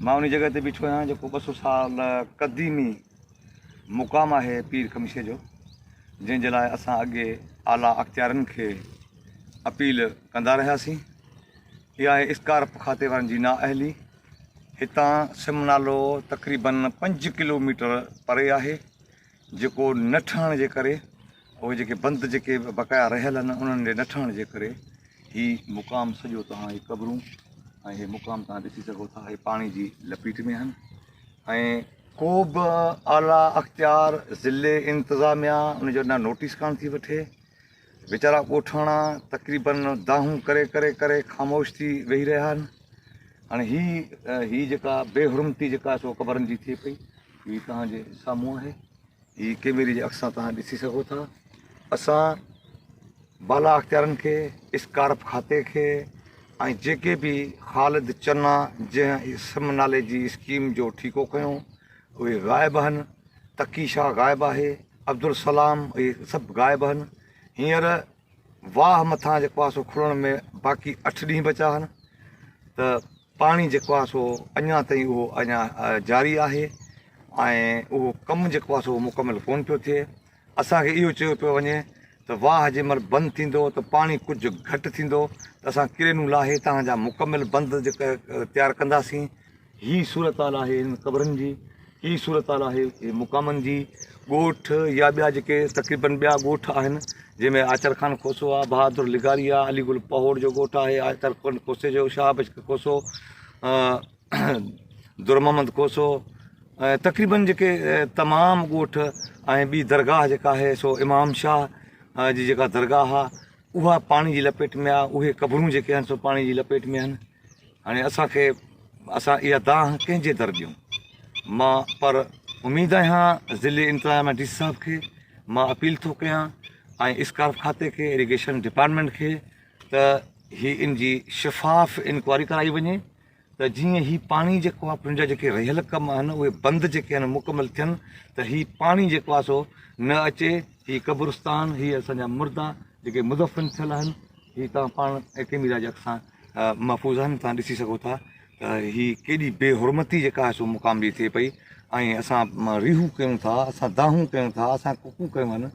مان انهي جڳهه تي بيٺو آهيان جيڪو ٻه سؤ سال قديمي مقام آهي پير خمشي جو جنهن جي لاء اسان اڳي اعليٰ اختيارين کي اپيل ڪندا رهياسين اها آهي اسڪارپ کاتي وارن جي نااهلي هتان سم نالو تقريبن پنج ڪلوميٽر پري آهي جيڪو نه ٺهڻ جي ڪري اهي جيڪي بند جيڪي بقايا رهيل آهن انهن جي نه ٺهڻ جي ڪري هي مقام سڄو توهان هي قبرون ۽ هي مقام توهان ڏسي سگهو ٿا هي پاڻي جي لپيٽ ۾ آهن ۽ ڪو به اعليٰ اختيار ضلعي انتظاميا ان جو نه نوٽيس ڪانه ٿي وٺي ويچارا ڳوٺاڻا تقريباً دانهون ڪري ڪري ڪري خاموش ٿي ويهي رهيا آهن. هاڻي هي هي جيڪا بي حرمتي جيڪا سو قبرن جي ٿئي پئي هي توهان جي سامهون آهي. هي ڪيميري جي اک سان توهان ڏسي سگهو ٿا. اسان بالا اختيارن کي، اسڪارپ کاتي کي ۽ جيڪي به خالد چنا جنهن اسم نالي جي اسڪيم جو ٺيڪو کنيو اهي غائب آهن، تقي شاهه غائب آهي، عبدالسلام اهي سڀ غائب آهن، هينئر واهه مٿان جيڪو آهي سو کلڻ ۾ باقي اٺ ڏينهن بچا آهن ته پاڻي جيڪو آهي سو اڃا تائين اهو اڃا جاري آهي ۽ اهو ڪم جيڪو آهي سو مڪمل ڪونه پيو ٿئي اسان کي اهو چيو پيو وڃي ته واهه جنهن مهل بند ٿيندو ته پاڻي ڪجهه گهٽ ٿيندو ته اسان ڪرينون لاهي توهان جا مڪمل بند تيار ڪنداسين. هي صورتحال آهي هنن قبرن جي، هي صورتحال آهي هي مقامن جي، ڳوٺ يا ٻيا جيڪي تقريبن ٻيا ڳوٺ آهن جنهن ۾ آچر خان کوسو آهي، بهادر لغاري آهي، علي گل پهوڙ جو ڳوٺ آهي، آچر خان کوسي جو شاهه بخش کوسو، در محمد کوسو ۽ تقريبن جيڪي تمام ڳوٺ ۽ ٻي درگاهه جيڪا آهي سو امام شاهه جي جيڪا درگاهه آهي اها پاڻي جي لپيٽ ۾ آهي اهي قبرون جيڪي آهن سو پاڻي جي لپيٽ ۾ آهن هاڻي اسانکي اسان اها دانهن ڪنهن جي در ڏيون مان پر اميد آهيان ضلعي انتظاميا ڊي سي صاحب کي مان اپيل ٿو ڪيان ۽ اسڪارف کاتي کي ايريگيشن ڊپارٽمنٽ کي ته هي ان جي شفاف انڪوائري ڪرائي وڃي ته جيئن هي پاڻي جيڪو آهي پنهنجا جيڪي رهيل ڪم آهن اهي بند جيڪي آهن مڪمل ٿين ته هي پاڻي جيڪو آهي سو نه اچي هي قبرستان هي اسان جا مردا جيڪي مدفن ٿيل آهن هي تان پاڻ ۽ ڪيميرا جي اکسان محفوظ آهن تان ڏسي سگهو ٿا ته هي ڪيڏي بي حرمتي جيڪا آهي سو مقام جي ٿئي پئي ۽ اسان ريهون ڪيون ٿا اسان دانهون ڪيون ٿا اسان ڪڪون ڪيون آهن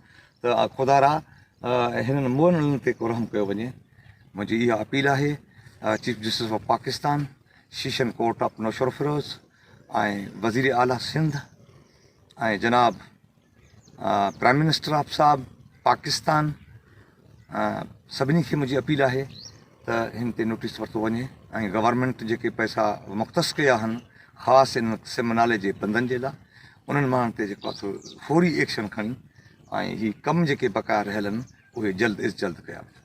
ته آء خدارا هنن مئنڙن تي ڪو رحم ڪيو وڃي. منهنجي اها اپيل آهي chief justice of Pakistan, session court of Naushahro Feroze ۽ وزير اعليٰ سنڌ ۽ جناب پرائم منسٽر آف صاحب پاڪستان سڀني کي منهنجي اپيل آهي ته ان تي نوٽيس ورتو وڃي ۽ گورنمينٽ جيڪي پئسا مختص ڪيا آهن خاص ان سم نالي جي بندن جي لاء انهن ماڻهن تي جيڪو آهي فوري ايڪشن کڻي ۽ هي ڪم جيڪي بقايا رهيل آهن اهي جلد از جلد ڪيا وڃن.